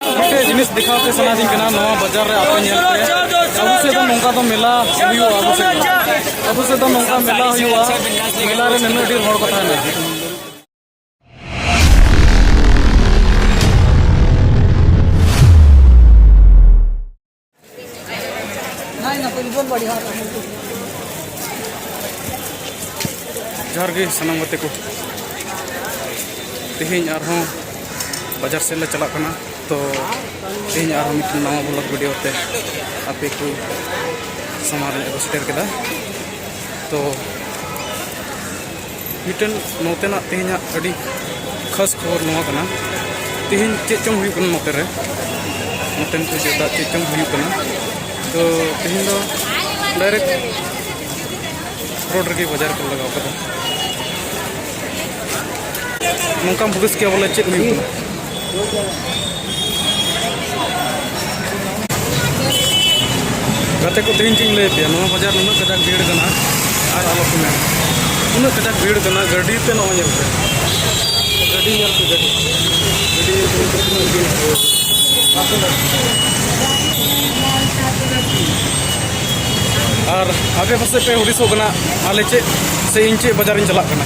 ᱢᱤᱫᱴᱮᱡ ᱡᱤᱱᱤᱥ ᱫᱮᱠᱷᱟᱣ ᱯᱮ ᱥᱟᱱᱟᱫᱤᱧ ᱠᱟᱱᱟ ᱱᱚᱣᱟ ᱵᱟᱡᱟᱨ ᱨᱮ ᱟᱯᱮ ᱧᱮᱞ ᱯᱮ ᱟᱵᱚ ᱥᱮᱫ ᱫᱚ ᱱᱚᱝᱠᱟ ᱫᱚ ᱢᱮᱞᱟ ᱦᱩᱭᱩᱜᱼᱟ ᱟᱵᱚ ᱥᱮᱫ ᱫᱚ ᱟᱵᱚ ᱥᱮᱫ ᱫᱚ ᱱᱚᱝᱠᱟ ᱢᱮᱞᱟ ᱦᱩᱭᱩᱜᱼᱟ ᱢᱮᱞᱟ ᱨᱮ ᱱᱩᱱᱟᱹᱜ ᱰᱷᱮᱨ ᱦᱚᱲ ᱠᱚ ᱛᱟᱦᱮᱱᱟ ᱡᱚᱦᱟᱨ ᱜᱮ ᱥᱟᱱᱟᱢ ᱜᱟᱛᱮ ᱠᱚ ᱛᱮᱦᱮᱧ ᱟᱨᱦᱚᱸ ᱵᱟᱡᱟᱨ ᱥᱮᱫ ᱞᱮ ᱪᱟᱞᱟᱜ ᱠᱟᱱᱟ ᱛᱚ ᱛᱮᱦᱮᱧ ᱟᱨᱦᱚᱸ ᱢᱤᱫᱴᱮᱱ ᱱᱟᱣᱟ ᱵᱞᱚᱜ ᱵᱷᱤᱰᱤᱭᱳ ᱛᱮ ᱟᱯᱮ ᱠᱚ ᱥᱟᱢᱟᱝ ᱨᱮ ᱟᱹᱜᱩ ᱥᱮᱴᱮᱨ ᱠᱮᱫᱟ ᱛᱚ ᱢᱤᱫᱴᱮᱱ ᱱᱚᱛᱮᱱᱟᱜ ᱛᱮᱦᱮᱧᱟᱜ ᱟᱹᱰᱤ ᱠᱷᱟᱥ ᱠᱷᱚᱵᱚᱨ ᱱᱚᱣᱟ ᱠᱟᱱᱟ ᱛᱮᱦᱮᱧ ᱪᱮᱫ ᱪᱚᱝ ᱦᱩᱭᱩᱜ ᱠᱟᱱᱟ ᱱᱚᱛᱮ ᱨᱮ ᱱᱚᱛᱮᱱ ᱠᱚ ᱡᱚᱛᱚ ᱪᱮᱫ ᱪᱚᱝ ᱦᱩᱭᱩᱜ ᱠᱟᱱᱟ ᱛᱚ ᱛᱮᱦᱮᱧ ᱫᱚ ᱰᱟᱭᱨᱮᱠᱴ ᱨᱳᱰ ᱨᱮᱜᱮ ᱵᱟᱡᱟᱨ ᱠᱚ ᱞᱟᱜᱟᱣ ᱠᱟᱫᱟ ᱱᱚᱝᱠᱟᱢ ᱦᱩᱫᱤᱥ ᱠᱮᱭᱟ ᱵᱚᱞᱮ ᱪᱮᱫ ᱦᱩᱭᱩᱜ ᱠᱟᱱᱟ ᱜᱟᱛᱮ ᱠᱚ ᱛᱮᱦᱮᱧ ᱪᱮᱫ ᱤᱧ ᱞᱟᱹᱭ ᱯᱮᱭᱟ ᱱᱚᱣᱟ ᱵᱟᱡᱟᱨ ᱱᱩᱱᱟᱹᱜ ᱠᱟᱡᱟᱠ ᱵᱷᱤᱲ ᱠᱟᱱᱟ ᱟᱨ ᱟᱞᱚ ᱠᱚ ᱢᱮᱱᱟ ᱩᱱᱟᱹᱜ ᱠᱟᱡᱟᱠ ᱵᱷᱤᱲ ᱠᱟᱱᱟ ᱜᱟᱹᱰᱤ ᱛᱮ ᱱᱚᱜᱼᱚᱭ ᱧᱮᱞ ᱯᱮ ᱜᱟᱹᱰᱤ ᱧᱮᱞ ᱯᱮ ᱜᱟᱹᱰᱤ ᱜᱟᱹᱰᱤ ᱧᱮᱞ ᱯᱮ ᱛᱤᱱᱟᱹᱜ ᱵᱷᱤᱲ ᱟᱨ ᱟᱯᱮ ᱯᱟᱥᱮᱡ ᱯᱮ ᱦᱩᱫᱤᱥᱚᱜ ᱠᱟᱱᱟ ᱟᱞᱮ ᱪᱮᱫ ᱥᱮ ᱤᱧ ᱪᱮᱫ ᱵᱟᱡᱟᱨᱤᱧ ᱪᱟᱞᱟᱜ ᱠᱟᱱᱟ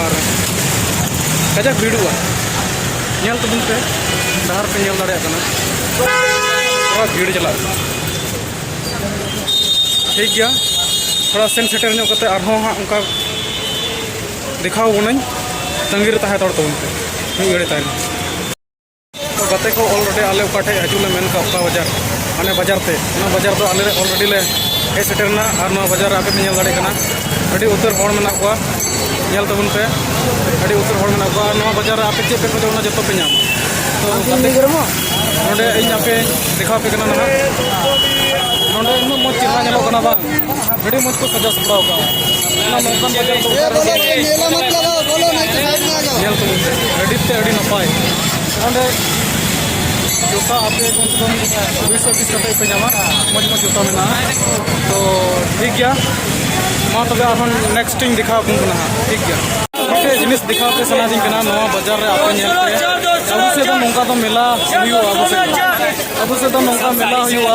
ᱟᱨ ᱠᱟᱡᱟᱠ ᱵᱷᱤᱲᱚᱜᱼᱟ ᱧᱮᱞ ᱛᱟᱵᱚᱱ ᱯᱮ ᱰᱟᱦᱟᱨ ᱯᱮ ᱧᱮᱞ ᱫᱟᱲᱮᱭᱟᱜ ᱠᱟᱱᱟ ᱛᱷᱚᱲᱟ ᱵᱷᱤᱲ ᱪᱟᱞᱟᱜ ᱠᱟᱱᱟ ᱴᱷᱤᱠ ᱜᱮᱭᱟ ᱛᱷᱚᱲᱟ ᱥᱮᱱ ᱥᱮᱴᱮᱨ ᱧᱚᱜ ᱠᱟᱛᱮ ᱟᱨᱦᱚᱸ ᱦᱟᱸᱜ ᱚᱱᱠᱟ ᱫᱮᱠᱷᱟᱣ ᱵᱚᱱᱟᱹᱧ ᱛᱟᱺᱜᱤ ᱨᱮ ᱛᱟᱦᱮᱸ ᱦᱟᱛᱟᱲ ᱛᱟᱵᱚᱱ ᱯᱮ ᱢᱤᱫ ᱜᱷᱟᱹᱲᱤᱡ ᱛᱟᱭᱱᱚᱢ ᱜᱟᱛᱮ ᱠᱚ ᱚᱞᱨᱮᱰᱤ ᱟᱞᱮ ᱚᱠᱟ ᱴᱷᱮᱡ ᱦᱤᱡᱩᱜ ᱞᱮ ᱢᱮᱱ ᱠᱟᱜ ᱚᱠᱟ ᱵᱟᱡᱟᱨ ᱢᱟᱱᱮ ᱵᱟᱡᱟᱨ ᱛᱮ ᱚᱱᱟ ᱵᱟᱡᱟᱨ ᱫᱚ ᱟᱞᱮ ᱚᱞᱨᱮᱰᱤ ᱞᱮ ᱦᱮᱡ ᱥᱮᱴᱮᱨᱱᱟ ᱟᱨ ᱱᱚᱣᱟ ᱵᱟᱡᱟᱨ ᱨᱮ ᱟᱯᱮ ᱯᱮ ᱧᱮᱞ ᱫᱟᱲᱮᱭᱟᱜ ᱠᱟᱱᱟ ᱟᱹᱰᱤ ᱩᱛᱟᱹᱨ ᱦᱚᱲ ᱢᱮᱱᱟᱜ ᱠᱚᱣᱟ ᱧᱮᱞ ᱛᱟᱵᱚᱱ ᱯᱮ ᱟᱹᱰᱤ ᱩᱛᱟᱹᱨ ᱦᱚᱲ ᱢᱮᱱᱟᱜ ᱠᱚᱣᱟ ᱟᱨ ᱱᱚᱣᱟ ᱵᱟᱡᱟᱨ ᱨᱮ ᱟᱯᱮ ᱪᱮᱫ ᱯᱮ ᱠᱷᱚᱡᱚᱜ ᱚᱱᱟ ᱡᱚᱛᱚ ᱯᱮ ᱧᱟᱢᱟ ᱛᱚ ᱜᱟᱛᱮ ᱱᱚᱰᱮ ᱤᱧ ᱟᱯᱮ ᱫᱮᱠᱷᱟᱣ ᱟᱯᱮ ᱠᱟᱱᱟ ᱱᱟᱦᱟᱜ ᱱᱚᱰᱮ ᱩᱱᱟᱹᱜ ᱢᱚᱡᱽ ᱪᱮᱦᱨᱟ ᱧᱮᱞᱚᱜ ᱠᱟᱱᱟ ᱵᱟᱝ ᱟᱹᱰᱤ ᱢᱚᱡᱽ ᱠᱚ ᱥᱟᱡᱟᱣ ᱥᱟᱯᱲᱟᱣ ᱠᱟᱜᱼᱟ ᱚᱱᱟ ᱱᱚᱝᱠᱟᱱ ᱵᱟᱡᱟᱨ ᱫᱚ ᱧᱮᱞ ᱠᱚ ᱟᱹᱰᱤ ᱛᱮ ᱟᱹᱰᱤ ᱱᱟᱯᱟᱭ ᱚᱸᱰᱮ ᱡᱚᱛᱟ ᱟᱯᱮ ᱠᱚᱢ ᱥᱮ ᱠᱚᱢ ᱵᱤᱥ ᱯᱤᱥ ᱠᱟᱛᱮ ᱯᱮ ᱧᱟᱢᱟ ᱢᱚᱡᱽ ᱢᱚᱡᱽ ᱡᱚᱛᱟ ᱢᱮᱱᱟᱜᱼᱟ ᱛᱚ ᱴᱷᱤᱠ ᱜᱮᱭᱟ ᱢᱟ ᱛᱚᱵᱮ ᱟᱨᱦᱚᱸ ᱱᱮᱠᱥᱴ ᱤᱧ ᱫᱮᱠᱷᱟᱣ ᱟᱵᱚᱱ ᱠᱟᱱᱟ ᱴᱷᱤᱠ ᱜᱮᱭᱟ ᱢᱤᱫᱴᱮᱡ ᱡᱤᱱᱤᱥ ᱫᱮᱠᱷᱟᱣ ᱯᱮ ᱥᱟᱱᱟᱫᱤᱧ ᱠᱟᱱᱟ ᱱᱚᱣᱟ ᱵᱟᱡᱟᱨ ᱨᱮ ᱟᱯᱮ ᱧᱮᱞ ᱯᱮ ᱟᱵᱚ ᱥᱮᱫ ᱫᱚ ᱱᱚᱝᱠᱟ ᱫᱚ ᱢᱮᱞᱟ ᱦᱩᱭᱩᱜᱼᱟ ᱟᱵᱚ ᱥᱮᱫ ᱫᱚ ᱟᱵᱚ ᱥᱮᱫ ᱫᱚ ᱱᱚᱝᱠᱟ ᱢᱮᱞᱟ ᱦᱩᱭᱩᱜᱼᱟ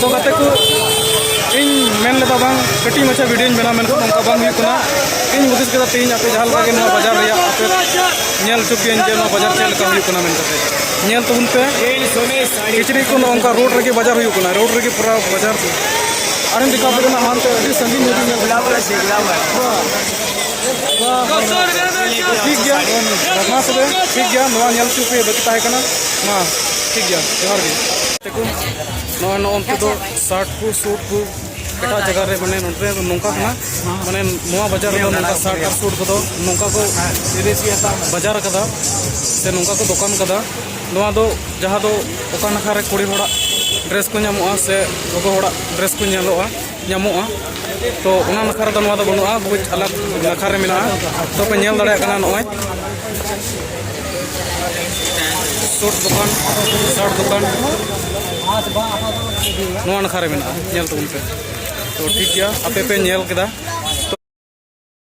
ᱛᱚ ᱜᱟᱛᱮ ᱠᱚ ᱤᱧ ᱢᱮᱱ ᱞᱮᱫᱟ ᱵᱟᱝ ᱠᱟᱹᱴᱤᱡ ᱢᱟᱪᱷᱟ ᱵᱷᱤᱰᱤᱭᱳᱧ ᱵᱮᱱᱟᱣ ᱢᱮᱱᱠᱷᱟᱱ ᱱᱚᱝᱠᱟ ᱵᱟᱝ ᱦᱩᱭᱩᱜ ᱠᱟᱱᱟ ᱤᱧ ᱦᱩᱫᱤᱥ ᱠᱮᱫᱟ ᱛᱮᱦᱮᱧ ᱟᱯᱮ ᱡᱟᱦᱟᱸ ᱞᱮᱠᱟ ᱜᱮ ᱱᱚᱣᱟ ᱵᱟᱡᱟᱨ ᱨᱮᱭᱟᱜ ᱟᱯᱮ ᱧᱮᱞ ᱦᱚᱪᱚ ᱯᱮᱭᱟᱹᱧ ᱡᱮ ᱱᱚᱣᱟ ᱵᱟᱡᱟᱨ ᱪᱮᱫ ᱞᱮᱠᱟ ᱦᱩᱭᱩᱜ ᱠᱟᱱᱟ ᱢᱮᱱ ᱠᱟᱛᱮ ᱧᱮᱞ ᱛᱟᱵᱚᱱ ᱯᱮ ᱠᱤᱪᱨᱤᱡ ᱠᱚ ᱱᱚᱝᱠᱟ ᱨᱳᱰ ᱨᱮᱜᱮ ᱵᱟᱡᱟᱨ ᱦᱩᱭᱩᱜ ᱠᱟᱱᱟ ᱨᱳᱰ ᱨᱮᱜᱮ ᱯᱩᱨᱟᱹ ᱵᱟᱡᱟᱨ ᱟᱨᱮᱧ ᱫᱮᱠᱷᱟᱣ ᱯᱮ ᱠᱟᱱᱟ ᱦᱟᱱᱛᱮ ᱟᱹᱰᱤ ᱥᱟᱺᱜᱤᱧ ᱧᱚᱜ ᱧᱮᱞ ᱴᱷᱤᱠ ᱜᱮᱭᱟ ᱢᱟ ᱛᱚᱵᱮ ᱴᱷᱤᱠ ᱜᱮᱭᱟ ᱱᱚᱣᱟ ᱧᱮᱞ ᱦᱚᱪᱚ ᱯᱮ ᱵᱟᱹᱠᱤ ᱛᱟᱦᱮᱸ ᱠᱟᱱᱟ ᱢᱟ ᱴᱷᱤᱠ ᱜᱮᱭᱟ ᱡᱚᱦᱟᱨ ᱜᱮ ᱱᱚᱜᱼᱚᱭ ᱱᱚᱜᱼᱚᱱᱛᱮ ᱫᱚ ᱥᱟᱨᱴ ᱠᱚ ᱥᱩᱴ ᱠᱚ ᱮᱴᱟᱜ ᱡᱟᱭᱜᱟ ᱨᱮ ᱢᱟᱱᱮ ᱱᱚᱸᱰᱮ ᱫᱚ ᱱᱚᱝᱠᱟ ᱠᱟᱱᱟ ᱢᱟᱱᱮ ᱱᱚᱣᱟ ᱵᱟᱡᱟᱨ ᱨᱮᱫᱚ ᱱᱚᱝᱠᱟ ᱥᱟᱨᱴ ᱟᱨ ᱥᱩᱴ ᱠᱚᱫᱚ ᱱᱚᱝᱠᱟ ᱠᱚ ᱵᱟᱡᱟᱨ ᱟᱠᱟᱫᱟ ᱥᱮ ᱱᱚᱝᱠᱟ ᱠᱚ ᱫᱚᱠᱟᱱ ᱟᱠᱟᱫᱟ ᱱᱚᱣᱟ ᱫᱚ ᱡᱟᱦᱟᱸ ᱫᱚ ᱚᱠᱟ ᱱᱟᱠᱷᱟ ᱨᱮ ᱠᱩᱲᱤ ᱦᱚᱲᱟᱜ ᱰᱨᱮᱥ ᱠᱚ ᱧᱟᱢᱚᱜᱼᱟ ᱥᱮ ᱜᱚᱜᱚ ᱦᱚᱲᱟᱜ ᱰᱨᱮᱥ ᱠᱚ ᱧᱮᱞᱚᱜᱼᱟ ᱧᱟᱢᱚᱜᱼᱟ ᱛᱚ ᱚᱱᱟ ᱱᱟᱠᱷᱟ ᱨᱮᱫᱚ ᱱᱚᱣᱟ ᱫᱚ ᱵᱟᱹᱱᱩᱜᱼᱟ ᱵᱩᱡᱽ ᱟᱞᱟᱜ ᱱᱟᱠᱷᱟ ᱨᱮ ᱢᱮᱱᱟᱜᱼᱟ ᱛᱚ ᱯᱮ ᱧᱮᱞ ᱫᱟᱲᱮᱭᱟᱜ ᱠᱟᱱᱟ ᱱᱚᱜᱼᱚᱭ ᱥᱩᱴ ᱫᱚᱠᱟᱱ ᱥᱟᱨᱴ ᱫᱚᱠᱟᱱ ᱱᱚᱣᱟ ᱱᱟᱠᱷᱟ ᱨᱮ ᱢᱮᱱᱟᱜᱼᱟ ᱧᱮᱞ ᱛᱟᱵᱚᱱ ᱯᱮ ᱛᱚ ᱴᱷᱤᱠ ᱜᱮᱭᱟ ᱟᱯᱮ ᱯᱮ ᱧᱮᱞ ᱠᱮᱫᱟ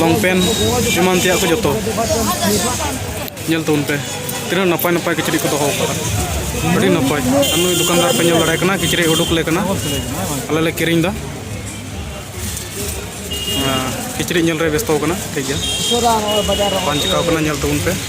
ᱞᱚᱝ ᱯᱮᱱ ᱮᱢᱟᱱ ᱛᱮᱭᱟᱜ ᱠᱚ ᱡᱚᱛᱚ ᱧᱮᱞ ᱛᱟᱵᱚᱱ ᱯᱮ ᱛᱤᱱᱟᱹᱜ ᱱᱟᱯᱟᱭ ᱱᱟᱯᱟᱭ ᱠᱤᱪᱨᱤᱡ ᱠᱚ ᱫᱚᱦᱚ ᱟᱠᱟᱫᱟ ᱟᱹᱰᱤ ᱱᱟᱯᱟᱭ ᱟᱨ ᱱᱩᱭ ᱫᱚᱠᱟᱱᱫᱟᱨ ᱯᱮ ᱧᱮᱞ ᱫᱟᱲᱮ ᱠᱟᱱᱟ ᱠᱤᱪᱨᱤᱡ ᱩᱰᱩᱠ ᱞᱮ ᱠᱟᱱᱟ ᱟᱞᱮ ᱞᱮ ᱠᱤᱨᱤᱧ ᱮᱫᱟ ᱠᱤᱪᱨᱤᱡ ᱧᱮᱞ ᱨᱮ ᱵᱮᱥᱛᱚ ᱠᱟᱱᱟ ᱴᱷᱤᱠ ᱜᱮᱭᱟ ᱵᱟᱝ ᱪᱤᱠᱟᱹᱣ ᱠᱟᱱᱟ ᱧᱮᱞ ᱛᱟᱵᱚᱱ ᱯᱮ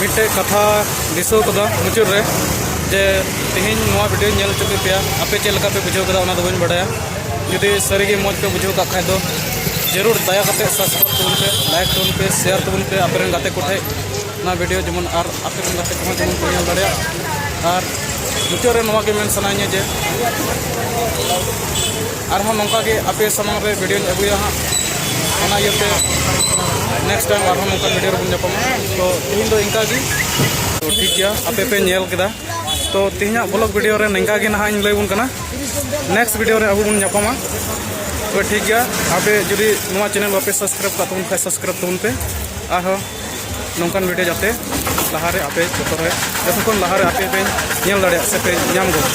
ᱢᱤᱫᱴᱮᱡ ᱠᱟᱛᱷᱟ ᱫᱤᱥᱟᱹ ᱠᱟᱫᱟ ᱢᱩᱪᱟᱹᱫ ᱨᱮ ᱡᱮ ᱛᱮᱦᱮᱧ ᱱᱚᱣᱟ ᱵᱷᱤᱰᱤᱭᱳ ᱧᱮᱞ ᱦᱚᱪᱚ ᱠᱮᱫ ᱯᱮᱭᱟ ᱟᱯᱮ ᱪᱮᱫ ᱞᱮᱠᱟ ᱯᱮ ᱵᱩᱡᱷᱟᱹᱣ ᱠᱮᱫᱟ ᱚᱱᱟ ᱫᱚ ᱵᱟᱹᱧ ᱵᱟᱰᱟᱭᱟ ᱡᱩᱫᱤ ᱥᱟᱹᱨᱤᱜᱮ ᱢᱚᱡᱽ ᱯᱮ ᱵᱩᱡᱷᱟᱹᱣ ᱠᱟᱜ ᱠᱷᱟᱡ ᱫᱚ ᱡᱟᱹᱨᱩᱲ ᱫᱟᱭᱟ ᱠᱟᱛᱮ ᱥᱟᱵᱥᱠᱨᱟᱭᱤᱵ ᱛᱟᱵᱚᱱ ᱯᱮ ᱞᱟᱭᱤᱠ ᱛᱟᱵᱚᱱ ᱯᱮ ᱥᱮᱭᱟᱨ ᱛᱟᱵᱚᱱ ᱯᱮ ᱟᱯᱮ ᱨᱮᱱ ᱜᱟᱛᱮ ᱠᱚᱴᱷᱮᱡ ᱱᱚᱣᱟ ᱵᱷᱤᱰᱤᱭᱳ ᱡᱮᱢᱚᱱ ᱟᱨ ᱟᱯᱮ ᱨᱮᱱ ᱜᱟᱛᱮ ᱠᱚᱦᱚᱸ ᱡᱮᱢᱚᱱ ᱠᱚ ᱧᱮᱞ ᱫᱟᱲᱮᱭᱟᱜ ᱟᱨ ᱢᱩᱪᱟᱹᱫ ᱨᱮ ᱱᱚᱣᱟ ᱜᱮ ᱢᱮᱱ ᱥᱟᱱᱟᱧᱟ ᱡᱮ ᱟᱨᱦᱚᱸ ᱱᱚᱝᱠᱟ ᱜᱮ ᱟᱯᱮ ᱥᱟᱢᱟᱝ ᱨᱮ ᱵᱷᱤᱰᱤᱭᱳᱧ ᱟᱹᱜᱩᱭᱟ ᱦᱟᱸᱜ ᱚᱱᱟ ᱤᱭᱟᱹᱛᱮ ᱱᱮᱠᱥᱴ ᱴᱟᱭᱤᱢ ᱟᱨᱦᱚᱸ ᱱᱚᱝᱠᱟ ᱵᱷᱤᱰᱤᱭᱳ ᱨᱮᱵᱚᱱ ᱧᱟᱯᱟᱢᱟ ᱛᱚ ᱛᱮᱦᱮᱧ ᱫᱚ ᱤᱱᱠᱟ ᱜᱮ ᱛᱚ ᱴᱷᱤᱠ ᱜᱮᱭᱟ ᱟᱯᱮ ᱯᱮ ᱧᱮᱞ ᱠᱮᱫᱟ ᱛᱚ ᱛᱮᱦᱮᱧᱟᱜ ᱵᱞᱚᱜ ᱵᱷᱤᱰᱤᱭᱳ ᱨᱮ ᱱᱤᱝᱠᱟ ᱜᱮ ᱱᱟᱦᱟᱜ ᱤᱧ ᱞᱟᱹᱭ ᱵᱚᱱ ᱠᱟᱱᱟ ᱱᱮᱠᱥᱴ ᱵᱷᱤᱰᱤᱭᱳ ᱨᱮ ᱟᱵᱚ ᱵᱚᱱ ᱧᱟᱯᱟᱢᱟ ᱛᱚ ᱴᱷᱤᱠ ᱜᱮᱭᱟ ᱟᱯᱮ ᱡᱩᱫᱤ ᱱᱚᱣᱟ ᱪᱮᱱᱮᱞ ᱵᱟᱯᱮ ᱥᱟᱵᱥᱠᱨᱟᱭᱤᱵ ᱠᱟᱜ ᱛᱟᱵᱚᱱ ᱠᱷᱟᱱ ᱥᱟᱵᱥᱠᱨᱟᱭᱤᱵ ᱛᱟᱵᱚᱱ ᱯᱮ ᱟᱨᱦᱚᱸ ᱱᱚᱝᱠᱟᱱ ᱵᱷᱤᱰᱤᱭᱳ ᱡᱟᱛᱮ ᱞᱟᱦᱟᱨᱮ ᱟᱯᱮ ᱡᱚᱛᱚ ᱨᱮ ᱡᱚᱛᱚ ᱠᱷᱚᱱ ᱞᱟᱦᱟᱨᱮ ᱟᱯᱮ ᱯᱮ ᱧᱮᱞ ᱫᱟᱲᱮᱭᱟᱜ ᱥᱮ ᱯᱮ ᱧᱟᱢ ᱜᱚᱫ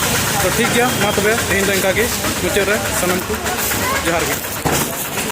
ᱛᱚ ᱴᱷᱤᱠ ᱜᱮᱭᱟ ᱢᱟ ᱛᱚᱵᱮ ᱛᱮᱦᱮᱧ ᱫᱚ ᱤᱱᱠᱟᱹ ᱜᱮ ᱢᱩᱪᱟᱹᱫ ᱨᱮ ᱥᱟᱱᱟᱢ ᱠᱚ ᱡᱚᱦᱟᱨ ᱜᱮ